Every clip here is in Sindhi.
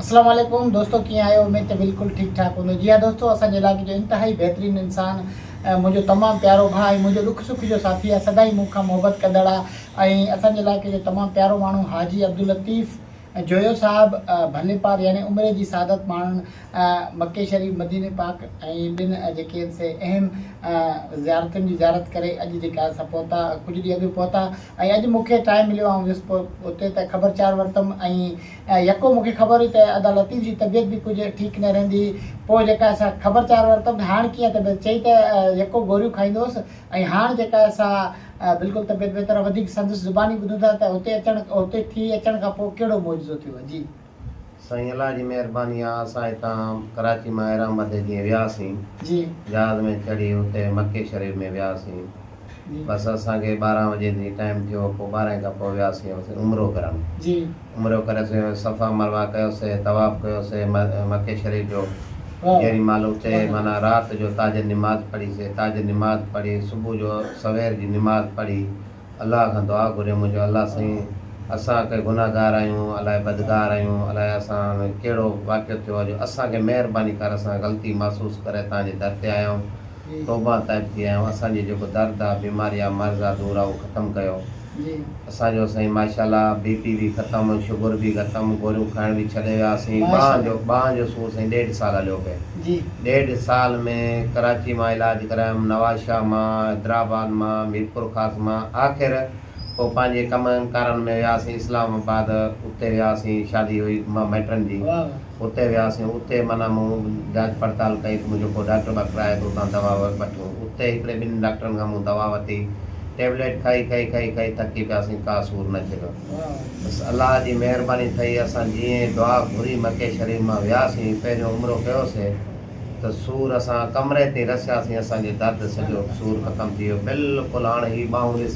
اسلام عليڪم دوستو ڪيئن آهيو اميد ته بلڪل ٺيڪ ٺاڪ هوندو جي ها دوستو اسان جي علائقي جو انتهائي بهترين انسان منهنجو تمام پيارو ڀاء ۽ منهنجو ڏک سک جو ساٿي آهي سدائين مون کان محبت ڪندڙ آهي ۽ اسان جي علائقي جو تمام پيارو ماڻهو حاجي عبداللطيف جويو صاحب ڀلي پار يعني عمري جي سعادت ماڻڻ مڪي شريف مديني پاڪ ۽ ٻن جيڪي آهن سي اهم زيارتن جي زيارت ڪري اڄ جيڪا اسان پهتا ڪجهه ڏينهن اڳ پهتا ۽ اڄ مون کي ٽائيم مليو آئون ويس اتي ته خبر چار ورتم ۽ يڪو مون کي خبر هئي ته ادا لطيف جي طبيعت به ڪجهه ٺيڪ نه رهندي هئي پوء جيڪا سا خبر چار ورتم ته هاڻ ڪيئن طبيعت چئي ته يڪو گوريون کائيندو هوس ۽ هاڻ جيڪا سا بلڪل طبيعت بهتر آهي وڌيڪ سندس زباني ٻڌون ٿا ته هتي اچڻ هتي ٿي اچڻ کان پوء ڪهڙو معجزو ٿيو جي سائين الله جي مهرباني آ اسان هتان ڪراچي مان ايران مدي جيئن وياسين جي جهاز ۾ چڙهي اتي مڪي شريف ۾ وياسين جي بس اسان کي ٻارهن وڄي تي ٽائيم ٿيو پوء ٻارهن کان پوء وياسين هوسين عمرو ڪرڻ جي عمرو ڪري اسين صفا مروه ڪيوسي طواف ڪيوسي مڪي شريف جو واهه جيڏي مهل اتي واهه معنيٰ رات جو تاجر نماز پڙهي سي تاجر نماز پڙهي صبح جو سوير جي نماز پڙهي الله کان دعا گهريم منهنجو الله سائين اسان ڪي گنهگار آهيون الائي بدگار آهيون الائي اسان ۾ ڪهڙو واقعو ٿيو آهي جو اسان کي مهرباني ڪر اسان غلطي محسوس ڪري تان جي در تي آيا آهيون توبان تائب ٿي آيا آهيون اسان جي جيڪو درد آهي بيماري آهي مرض آهي دور آهي اهو ختم ڪيو اسان جو سائين ماشاءالله بي پي به ختم شگر به ختم گوريون کائڻ به ڇڏي ويا سين ٻانهن جو ٻانهن جو سور سائين ڏيڍ سال هليو پئي. جي. ڏيڍ سال ۾ ڪراچي مان علاج ڪرايم، نواز شاهه مان، حيدرآباد مان، ميرپور خاص مان، آخر پوء پنهنجي ڪمن ڪارن ۾ وياسين اسلام آباد، اتي وياسين شادي هئي مائٽن جي، اتي وياسين، اتي معنيٰ مون جاچ پڙتال ڪئي ته منهنجو ڪو ڊاڪٽر ٻاڪٽر آهي ته اتان دوا وٺون، اتي هڪڙي ٻن ڊاڪٽرن کان مون دوا وٺي، ٽيبليٽ کائي کائي کائي کائي ٿڪي پياسين، ڪا سور نه جهڳ. بس الله جي مهرباني ٿئي اسان جيئن ئي دعا گهري مڪي شريف مان وياسين پهريون عمرو ڪيوسين ته سور اسان ڪمري تي رسياسين اسان جو درد سڄو سور ختم ٿي ويو بلڪل هاڻ هي ٻانهون ڏس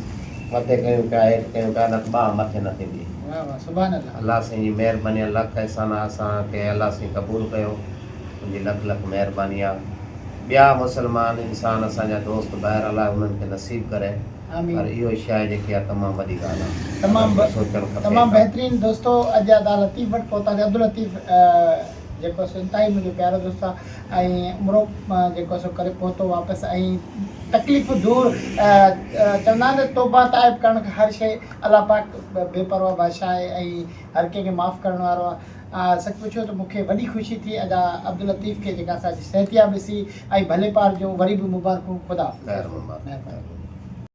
مٿي ڪيون پيا هيٺ ڪيون پيا نه ته ٻانهن مٿي نه ٿيندي الله سائين جي مهرباني آ لک احسان آ اسان کي الله سائين قبول ڪيو ان جي لک لک مهرباني آ ٻيا مسلمان انسان اسان جا دوست ٻاهر الله انهن کي نصيب ڪري. پر اهو شيء جيڪي آهي تمام وڏي ڳالهه آهي. تمام تمام بهترين دوستو اڄ ادا لطيف وٽ پهتاسي عبداللطيف جيڪو سو انتهائي منهنجو پيارو دوست آ ۽ عمرو جيڪو سو ڪري پهتو واپس ۽ تڪليفون دور چوندا آهن ته توبه تائب ڪرڻ کان هر شيء الله پاڪ بي پرواهه بادشاهه آهي ۽ هر ڪنهن کي معاف ڪرڻ وارو آ سچ پڇو ته مون کي وڏي خوشي ٿي ادا عبداللطيف کي جيڪا اسان جي صحتياب ڏسي ۽ ڀلي پار جون وري به مبارڪون خدا حافظ.